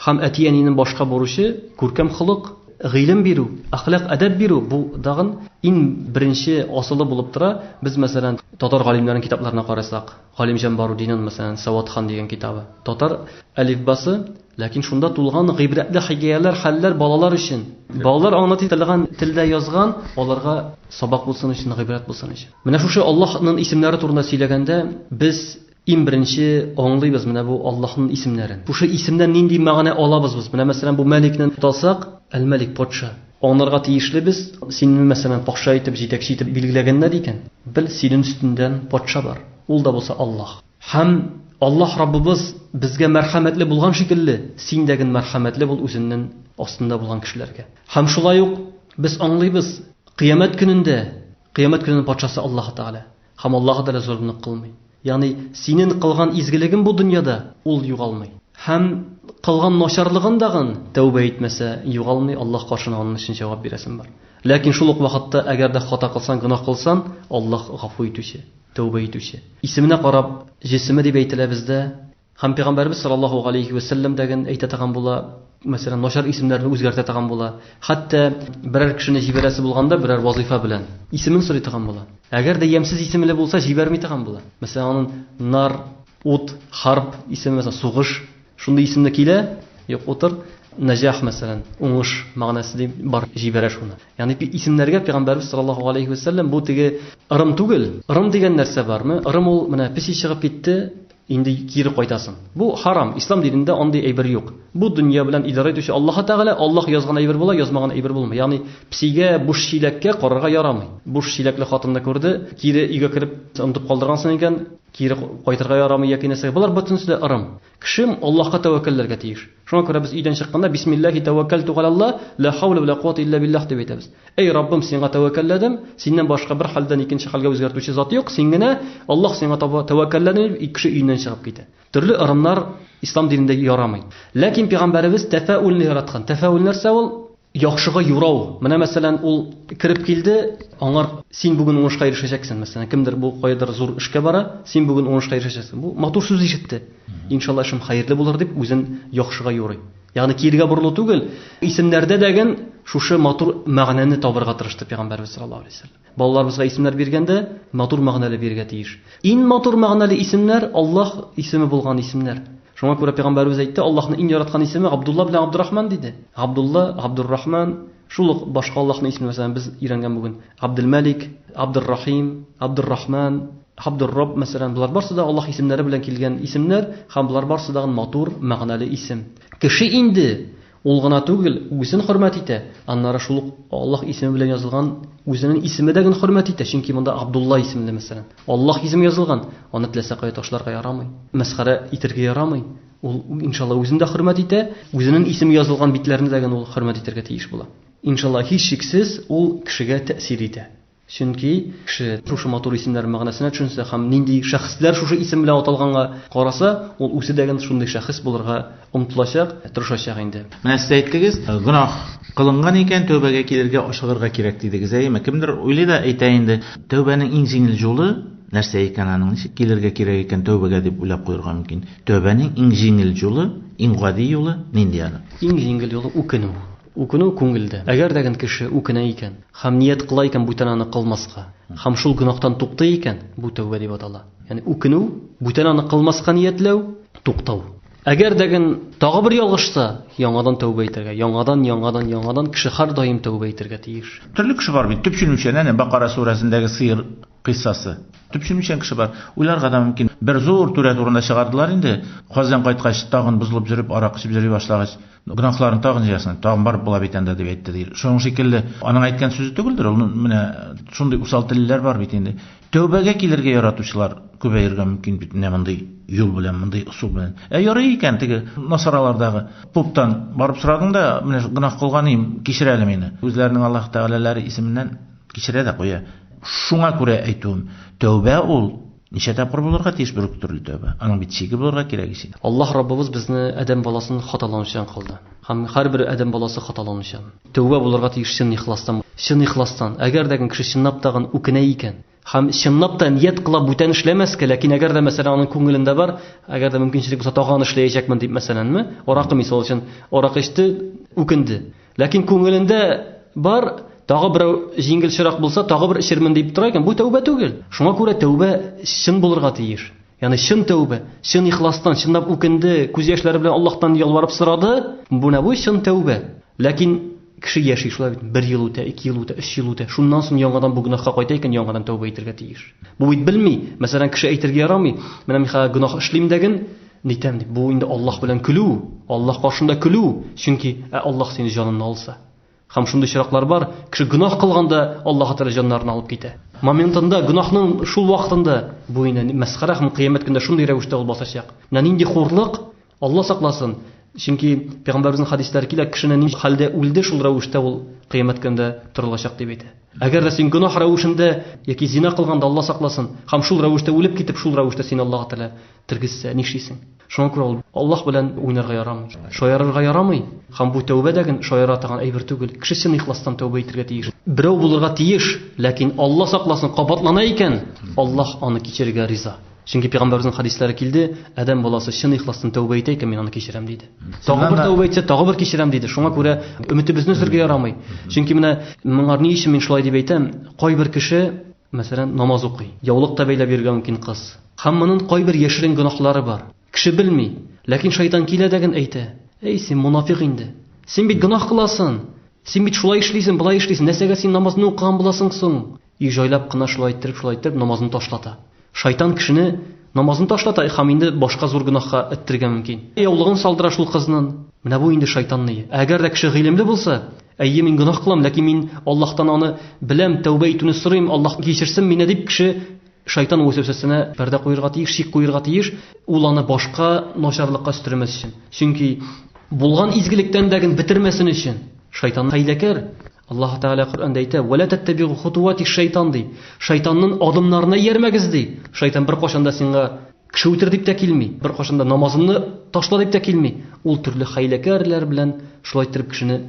һәм әти-әнинең башка бурычы, күркәм холык, гыйлем бирү, әхлак, әдәп бирү, бу да гын иң беренче асылы булып тора. Без, мәсәлән, татар галимнәренең китапларына карасак, Галимҗан Барудинын, мәсәлән, Сәватхан дигән китабы, татар әлифбасы, Ләкин шунда тулган гыйбрәтле хикәяләр, хәлләр балалар өчен. Балалар аңлата торган телдә язган, аларга сабак булсын өчен, гыйбрәт булсын өчен. Менә шушы Аллаһның исемнәре турында сөйләгәндә, без иң беренче аңлыйбыз менә бу Аллаһның исемнәрен. Шушы исемнән нинди мәгънә алабыз без? Менә мәсәлән, бу Мәликне тотасак, Әл-Мәлик, патша. Аңларга тиешле без, сине мәсәлән патша итеп, җитәкче итеп билгеләгәннәр икән, бел, синең өстеңдән патша бар. Ул да булса Аллаһ. Һәм Аллаһ Раббыбыз безгә мәрхәмәтле булган шикелле, син дә ген мәрхәмәтле бул үзеннен астында булган кешеләргә. Һәм шулай ук без аңлыйбыз, Кыямәт көнендә, Кыямәт көненең патшасы Аллаһ Тәгалә, һәм Аллаһ Тәгалә золымлык кылмый. Ягъни, синен кылган изгелегең бу дөньяда, ул югалмый. Һәм кылган начарлыгын да гын, тәүбә итмәсә, югалмый, Аллаһ каршына анын өчен җавап бирәсен бар. Ләкин шул ук вакытта, әгәр дә хата кылсан, гөнаһ кылсан, Аллаһ Гафу итүче. Тәүбә итүче. Исеменә карап, җесеме дип әйтелә бездә. Һәм Пәйгамбәребез саллаллаһу галәйһи вә сәлләм дә ген әйтә торган була, мәсәлән, начар исемнәрне үзгәртә торган була. Хәтта берәр кешене җибәрәсе булганда, берәр вазыйфа белән, исемен сорый торган була. Әгәр дә ямьсез исемле булса, җибәрми торган була. Мәсәлән, аның Нар, Ут, Хәрб исеме, мәсәлән, Сугыш. Шундый исемне килә, юк утыр, Нәҗах мәсәлән, уңыш мәгънәсе дип бар җибәрә шуны. Ягъни исемнәргә пәйгамбәрбез саллаллаһу алейһи ва сәлләм бу теге ырым түгел. Ырым дигән нәрсә бармы? Ырым ул менә песи чыгып китте, инде кире кайтасың. Бу харам, ислам динендә андый әйбер юк. Бу дөнья белән идарә итүче Аллаһы Тәгалә, Аллаһ язган әйбер була, язмаган әйбер булмый. Ягъни песигә буш чиләккә карарга ярамый. Буш чиләкле хатынны күрде, кире өйгә кереп онытып калдыргансың икән, Кире кайтырга ярамый яки нәрсә. Болар бөтенесе дә ырым. Кеше Аллаһка тәвәккәлләргә тиеш. Шуңа күрә без өйдән чыкканда бисмиллаһи тәвәккәлтү галәлла, лә хәүлә вә лә куата илля биллаһ дип әйтәбез. Әй, Раббым, сиңа тәвәккәлләдем, синнән башка бер хәлдән икенче хәлгә үзгәртүче зат юк, син генә, Аллаһ, сиңа таба тәвәккәлләдем, дип кеше өеннән чыгып китә. Төрле ырымнар Ислам динендә ярамый. Ләкин Пәйгамбәребез тәфәүлне яраткан. Тәфәүл нәрсә ул? Яхшыга юрау. Менә, мәсәлән, ул кереп килде, аңар син бүген уңышка ирешәчәксең, мәсәлән, кемдер бу каядыр зур эшкә бара, син бүген уңышка ирешәчәксең. Бу матур сүз ишетте. Иншалла эшем хәерле булыр дип, үзен яхшыга юрый. Ягъни кирегә борылу түгел, исемнәрдә дәген шушы матур мәгънәне табырга тырышты Пәйгамбәребез саллаллаһу алейһи ва сәлләм. Балаларыбызга исемнәр биргәндә, матур мәгънәле бирергә тиеш. Иң матур мәгънәле исемнәр, Аллаһ исеме булган исемнәр. Шуңа күрә Пәйгамбәребез әйтте, Аллаһның иң яраткан исеме Габдулла белән Габдурахман, диде. Габдулла, Габдуррахман, шул ук башка Аллаһның исеме, мәсәлән, без өйрәнгән бүген, Габделмәлик, Габдуррахим, Габдуррахман, Габдуррабб, мәсәлән, болар барысы да Аллаһ исемнәре белән килгән исемнәр һәм болар барысы да матур мәгънәле исем. Кеше инде Ул гына түгел, үгесен хөрмәт итә, аннары шул ук Аллаһ исеме белән язылган үзенең исеме дә гөн хөрмәт итә, чөнки монда Абдулла исемле, мәсәлән, Аллаһ исеме язылган, аны теләсә кая ташларга ярамый, мәсхәрә итергә ярамый, ул, иншалла, үзен дә хөрмәт итә, үзенең исеме язылган битләрне дә гөн ул хөрмәт итәргә тиеш була. Иншалла, һичшиксез, ул кешегә тәэсир итә. Чөнки кеше шушы матур исемнәр мәгънәсенә төшенсә һәм нинди шәхесләр шушы исем белән аталганга караса, ул үзе дә гел шундый шәхес булырга омтылачак, тырышачак инде. Менә сез әйттегез, гөнаһ кылынган икән, тәүбәгә килергә, ашыгырга кирәк дидегез. Әйеме? Кемдер уйлый да әйтә инде, тәүбәнең иң җиңел юлы нәрсә икән аның, ничек килергә кирәк икән тәүбәгә дип уйлап куерга мөмкин. Тәүбәнең иң җиңел юлы, иң гади юлы нинди аның? Иң җиңел юлы үкенү. Үкенү күңелдә. Әгәр дә гэн кеше үкенә икән хам ният кыла икән бүтән аны кылмаска, хам шул гөнаһтан туктый икән, бу тәүбә дип атала. Ягъни үкенү, бүтән аны кылмаска ниятләү, туктау. Әгәр дә гэн тагы бер ялгышса, яңадан тәүбә итәргә, яңадан, яңадан, яңадан кеше һәрдаим тәүбә итәргә тиеш. Төрле кеше бар бит, төпченүчән, әнә Бакара сүрәсендәге сыер кыйссасы. Төпченүчән кеше бар. Уйларга да мөмкин, бер зур түрә турында чыгардылар инде, хаҗдан кайткач, тагын бозылып йөреп, арак эчеп йөри башлагач. гөнаһларын тагын җыясың, тагын барып була бит анда дип әйтте ди. Шуның шикелле, аның әйткән сүзе түгелдер, ул менә шундый усал телләр бар бит инде. Тәүбәгә килергә яратучылар күбәергә мөмкин бит менә мондый юл белән, мондый ысул белән. Ә ярый икән теге насаралардагы поптан барып сорадың да, менә гөнаһ кылганым, кичер әле мине. Үзләренең Аллаһ Тәгаләләре исеменнән кичерә дә куя. Шуңа күрә әйтүем, тәүбә ул Ничә тапкыр булырга тиеш бер үк төрле тәүбә? Аның бит чиге булырга кирәк ич инде. Аллаһ Раббыбыз безне адәм баласын хаталанучан кылды. Һәм һәрбер адәм баласы хаталанучан. Тәүбә булырга тиеш чын ихластан. Чын ихластан. Әгәр дә гын кеше чынлап та гын үкенә икән, һәм чынлап та ният кыла бүтән эшләмәскә, ләкин әгәр дә мәсәлән аның күңелендә бар, әгәр дә мөмкинчелек булса тагын аны эшләячәкмен дип мәсәләнме, аракы мисал өчен, аракы эчте, үкенде. Ләкин күңелендә бар, тагы берәү җиңелчерәк булса, тагы бер эчермен дип тора икән. Бу тәүбә түгел. Шуңа күрә тәүбә чын булырга тиеш. Ягъни чын тәүбә, чын ихластан, чынлап үкенде, күз яшьләре белән Аллаһтан ялварып сорады. Бу нә бу чын тәүбә. Ләкин кеше яши шулай бит. Бер ел үтә, ике ел үтә, өч ел үтә. Шуннан соң яңадан бу гөнаһка кайта икән, яңадан тәүбә итәргә тиеш. Бу бит белми. Мәсәлән, кеше әйтергә ярамый, менә мин хәзер гөнаһ эшлим дәген, Нитәм дип, бу инде Аллаһ белән көлү, Аллаһ каршында көлү, чөнки, ә Аллаһ сине җаныңны алса? Һәм шундый очраклар бар, кеше гөнаһ кылган да, Аллаһы Тәгалә җаннарын алып китә. Моментында, гөнаһның шул вакытында, бу инде мәсхәрә һәм Кыямәт көндә шундый рәвештә ул басачак. Менә нинди хурлык, Аллаһ сакласын! Чөнки Пәйгамбәребезнең хәдисләре килә, кешене нинди хәлдә үлде, шул рәвештә ул Кыямәт көндә торылачак дип әйтә. Әгәр дә син гөнаһ рәвешендә яки зина кылганда, Аллаһ сакласын, һәм шул рәвештә үлеп китеп, шул рәвештә сине Аллаһы Тәгалә Тергезсә, нишлисең? Шуңа күрә ул Аллаһ белән уйнарга ярамый. Шаярырга ярамый. Һәм бу тәүбә дә гел шаяра торган әйбер түгел. Кеше чын ихластан тәүбә итәргә тиеш. Берәү булырга тиеш, ләкин, Алла сакласын, кабатлана икән, Аллаһ аны кичерергә риза. Чөнки Пәйгамбәребезнең хәдисләре килде, Адәм баласы чын ихластан тәүбә итә икән, мин аны кичерәм, диде. Тагы бер тәүбә итсә, тагы бер кичерәм, диде. Шуңа күрә өметебезне өзергә ярамый. Чөнки менә моңар ни өчен мин шулай дип әйтәм, кайбер кеше мәсәлән, намаз укый, яулык та бәйләп йөрергә мөмкин кыз. Һәм монын кайбер яшерен гөнаһлары бар. Кеше белми, ләкин шайтан килә дә гэн әйтә, Әй, син монафикъ инде. Син бит гөнаһ кыласын! Син бит шулай эшлисен, болай эшлисен, нәсәгә син намазны укыган буласың соң? И җайлап кына шулай әйттереп, шулай әйттереп намазны ташлата. Шайтан кешене намазны ташлата һәм инде башка зур гөнаһка эттергә мөмкин. Яулыгын салдыра шул кызнын. Менә бу инде шайтанные. Әгәр дә кеше гыйлемле булса, Әйе, мин гөнаһ кылам, ләкин мин Аллаһтан аны беләм, тәүбә итүне сорыйм, Аллаһ кичерсен мине, дип кеше шайтан вәсвәсәсенә пәрдә куерга тиеш, шик куерга тиеш, ул аны башка начарлыкка өстермәс өчен. Чөнки булган изгелектән дә ген бетермәсен өчен. Шайтан хәйләкәр. Аллаһ Тәгалә Коръәндә әйтә, "Вәлә тәттәбигу хутуати шайтан", ди. Шайтанның адымнарына иярмәгез, ди. Шайтан беркайчан да сиңа Кеше үтер дип тә килми, беркайчан да намазымны ташла дип тә килми. Ул төрле хәйләкәрләр белән шулай иттереп кешене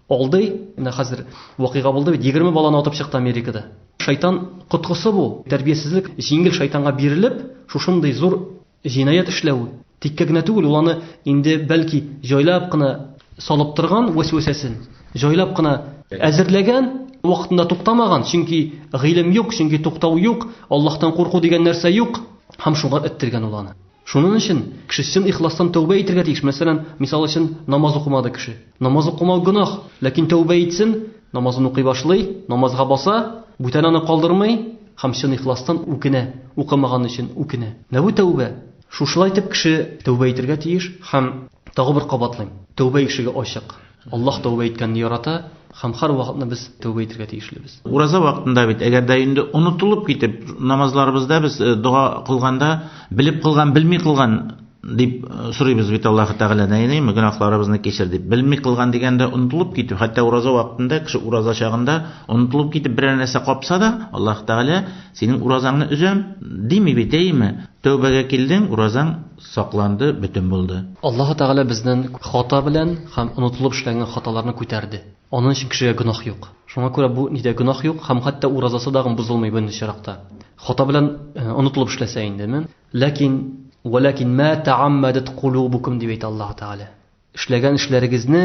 алдый. Менә хәзер вакыйга булды бит, егерме баланы атып чыкты Америкада. Шайтан коткысы бу, тәрбиясезлек, җиңел шайтанга бирелеп, шушындый зур җинаять эшләве. Тиккә генә түгел, ул аны инде, бәлки, җайлап кына салып торган вәсвәсәсен, җайлап кына әзерләгән, вакытында туктамаган, чөнки гыйлем юк, чөнки туктау юк, Аллаһтан курку дигән нәрсә юк. Һәм шуңа эттергән ул аны. Шунын өчен кеше чын ихластан тәүбә итергә тиеш. Мәсәлән, мисал өчен, намаз укымады кеше. Намаз укымау гөнаһ. Ләкин тәүбә итсен, намазын укый башлый, намазга баса, бүтән аны калдырмый һәм чын ихластан үкенә, укымаганы өчен үкенә. Менә бу тәүбә. Шушылай итеп кеше тәүбә итергә тиеш. Һәм тагы бер кабатлыйм, тәүбә ишеге ачык. Аллаһ тәүбә иткәнне ярата һәм һәрвакытны без тәүбә итергә тиешлебез. Ураза вакытында бит, әгәр дә инде онытылып китеп, намазларыбызда без э, дога кылганда, белеп кылган, белми кылган дип э, сорыйбыз бит Аллаһ Тәгаләдән, әйдәме, гөнаһларыбызны кичер дип. Белми кылган дигәндә онытылып китү, хәтта ураза вакытында, кеше ураза чагында онытылып китеп берәр нәрсә капса да, Аллаһ Тәгалә синең уразаңны өзәм дими бит, әйеме? Тәүбәгә килдең, уразаң Сакланды, бөтен булды. Аллаһы Тәгалә безнен хата белән һәм онытылып эшләнгән хаталарны күтәрде. Анын өчен кешегә гөнаһ юк. Шуңа күрә бу нидә гөнаһ юк һәм хәтта уразасы дагын бозылмый беренче чиракта. Хата белән онытылып эшләсә индеме. Ләкин, Вәләкин мә тәгаммәдәт кулубукум дип әйтә Аллаһы Тәгалә. Эшләгән эшләрегезне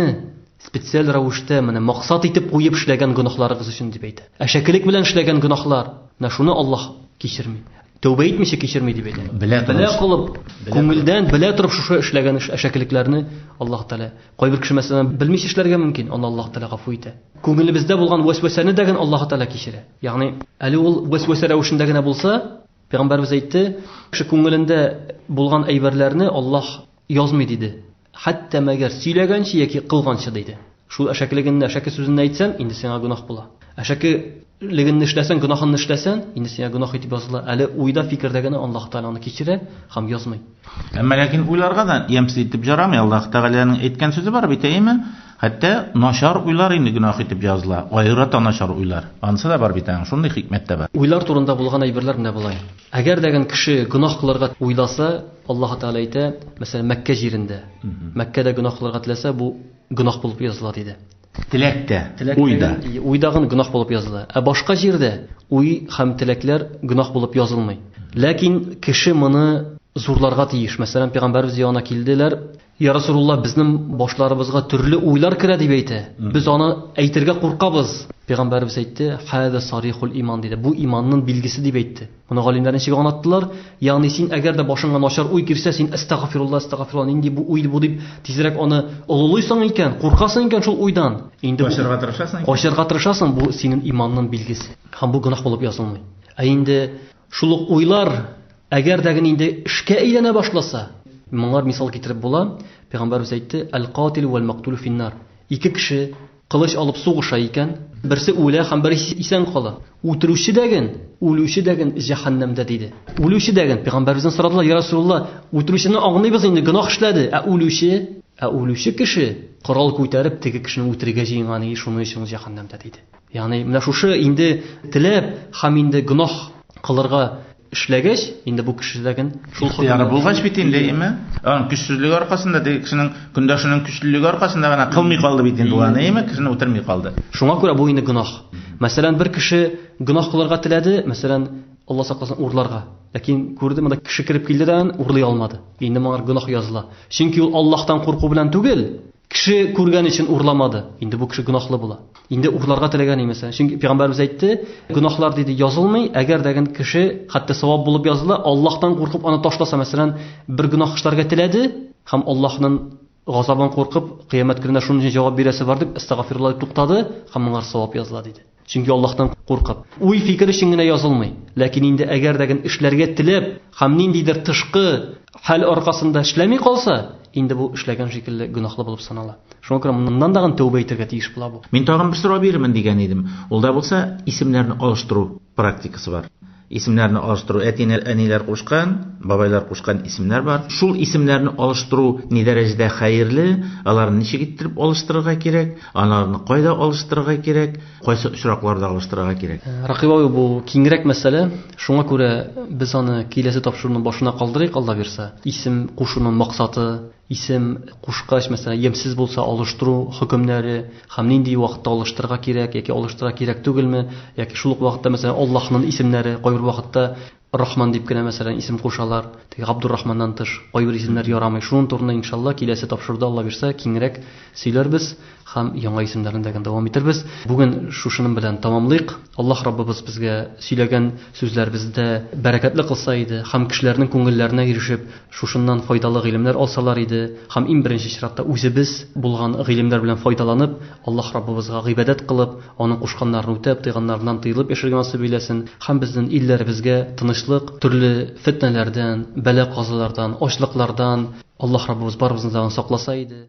специаль рәвештә менә максат итеп куеп эшләгән гөнаһларыгыз өчен дип әйтә. Әшәкелек белән эшләгән гөнаһлар, менә шуны Аллаһ кичерми. Тәүбә итмичә кичерми дип әйтә. Белә кылып, күңелдән белә торып шушы эшләгән эш әшәкелекләрне Аллаһ Тәгалә. Кайбер кеше мәсәлән белмичә эшләргә мөмкин, аны Аллаһ Тәгалә гафу итә. Күңелебездә булган вәсвәсәне дә генә Аллаһ Тәгалә кичерә. Ягъни, әле ул вәсвәсә рәвешендә генә булса, Пәйгамбәрбез әйтте, кеше күңелендә булган әйберләрне Аллаһ Язмый, диде. Хәтта мәгәр сөйләгәнче яки кылганчы, диде. Шул әшәкелегенне, әшәке сүзенне әйтсәң, инде сиңа гөнаһ була. Әшәке легенне эшләсәң, гөнаһынны эшләсәң, инде сиңа гөнаһ итеп языла. Әле уйда, фикердә генә Аллаһы Тәгалә аны кичерә һәм язмый. Әмма ләкин уйларга да ямьсез итеп җарамый. Аллаһы Тәгаләнең әйткән сүзе бар бит, әйеме? Хәтта начар уйлар инде гөнаһ итеп языла. Аерата начар уйлар. Анысы да бар бит аның, шундый хикмәт тә бар. Уйлар турында булган әйберләр менә болай. Әгәр дә гән кеше гөнаһ кылырга уйласа, Аллаһы Тәгалә әйтә, мәсәлән, Мәккә җирендә. Мәккәдә гөнаһ кылырга теләсә, бу гөнаһ булып языла, диде. Теләк тә, уй да. Уй да гөнаһ булып языла. Ә башка җирдә уй һәм теләкләр гөнаһ булып язылмый. Ләкин кеше моны зурларга тиеш. Мәсәлән, Пәйгамбәребез янына килделәр. Йа Расулулла, безнең башларыбызга төрле уйлар керә, дип әйтә. Без аны әйтергә куркабыз. Пәйгамбәребез әйтте, Һәза сарихул иман, диде. Бу иманның билгесе, дип әйтте. Моны галимнәр ничек аңлаттылар? Ягъни син, әгәр дә башыңа начар уй килсә, син әстәгъфирулла, әстәгъфирулла, нинди бу уй бу, дип, тизрәк аны олылыйсың икән, куркасың икән шул уйдан. Инде бу Качырга тырышасың икән. Качырга тырышасың, бу синең иманның билгесе. Һәм бу гөнаһ булып язылмый. Ә инде Шул ук уйлар, әгәр дә генә инде эшкә әйләнә башласа, моңар мисал китереп була, пәйгамбәрбез әйтте, әл-катилү вәл-мәктүлү фин-нар. Ике кеше кылыч алып сугыша икән, берсе үлә һәм берисе исән кала. Үтерүче дә ген, үлүче дә ген җәһәннәмдә, диде. Үлүче дә ген, пәйгамбәрбездән сорадылар, я Расулулла, үтерүчене аңлыйбыз инде, гөнаһ эшләде, ә үлүче? Ә үлүче кеше корал күтәреп теге кешене үтерергә җыенган иде, шуның өчен ул җәһәннәмдә, диде. Ягъни менә шушы инде теләп һәм инде гөнаһ кылырга эшләгәч, инде бу кешелеген шул хоккыйдә булгач бит инде, әйеме? Аның көчсезлеге аркасында, теге кешенең көндәшенең көчлелеге аркасында гына кылмый калды бит инде ул аны, әйеме? Кешене үтерми калды. Шуңа күрә бу инде гөнаһ. Мәсәлән, бер кеше гөнаһ кылырга теләде, мәсәлән, Алла сакласын, урларга. Ләкин күрде, монда кеше кереп килде дә аны урлый алмады. Инде моңар гөнаһ языла. Чөнки ул Аллаһтан курку белән түгел, кеше күргән өчен урламады. Инде бу кеше гөнаһлы була. Инде урларга теләгән имесә. Чөнки пәйгамбәрбез әйтте, гөнаһлар диде язылмый, әгәр дә кеше хәтта савап булып языла, Аллаһтан куркып аны ташласа, мәсәлән, бер гөнаһ эшләргә теләде һәм Аллаһның газабын куркып, кыямәт көнендә шуның өчен җавап бирәсе бар дип, астагфирулла дип туктады һәм моңар савап языла диде. Чөнки Аллаһтан куркып. Уй фикер өчен генә язылмый. Ләкин инде әгәр дә эшләргә теләп, һәм ниндидер тышкы хәл аркасында эшләми калса, инде бу эшләгән шикелле гөнаһлы булып санала. Шуңа күрә моннан тагын тәүбә итәргә тиеш була бу. Мин тагын бер сорау бирермен дигән идем. Ул да булса, исемнәрне алыштыру практикасы бар. Исемнәрне алыштыру, әтиләр, әниләр кушкан, бабайлар кушкан исемнәр бар. Шул исемнәрне алыштыру ни дәрәҗәдә хәерле, аларны ничек иттереп алыштырырга кирәк, аларны кайда алыштырырга кирәк, кайсы очракларда алыштырырга кирәк? Рәкыйп абый, бу киңрәк мәсьәлә. Шуңа күрә без аны киләсе тапшыруның башына калдырыйк, Алла бирса. Исем кушуның максаты, Исем кушкач, мәсәлән, ямьсез булса, алыштыру хөкемнәре һәм нинди вакытта алыштырырга кирәк яки алыштырырга кирәк түгелме, яки шул ук вакытта, мәсәлән, Аллаһның исемнәре, кайбер вакытта Рахман дип кенә, мәсәлән, исем кушалар, теге Габдуррахманнан тыш кайбер исемнәр ярамый. Шуның турында, иншалла, киләсе тапшыруда, Алла бирса, киңрәк сөйләрбез. һәм яңа исемнәрне дә гел дәвам итербез. Бүген шушының белән тәмамлыйк. Аллаһ Раббыбыз безгә сөйләгән сүзләребездә бәрәкәтле кылса иде һәм кешеләрнең күңелләренә ирешеп, шушыннан файдалы гыйлемнәр алсалар иде һәм иң беренче чиратта үзебез булган гыйлемнәр белән файдаланып, Аллаһ Раббыбызга гыйбадәт кылып, Аның кушканнарын үтәп, тыйганнарыннан тыелып яшәргә насыйп эйләсен һәм безнен илләребезгә тынычлык, төрле фетнәләрдән, бәла-казалардан, ачлыклардан Аллаһ Раббыбыз барыбызны да сакласа иде.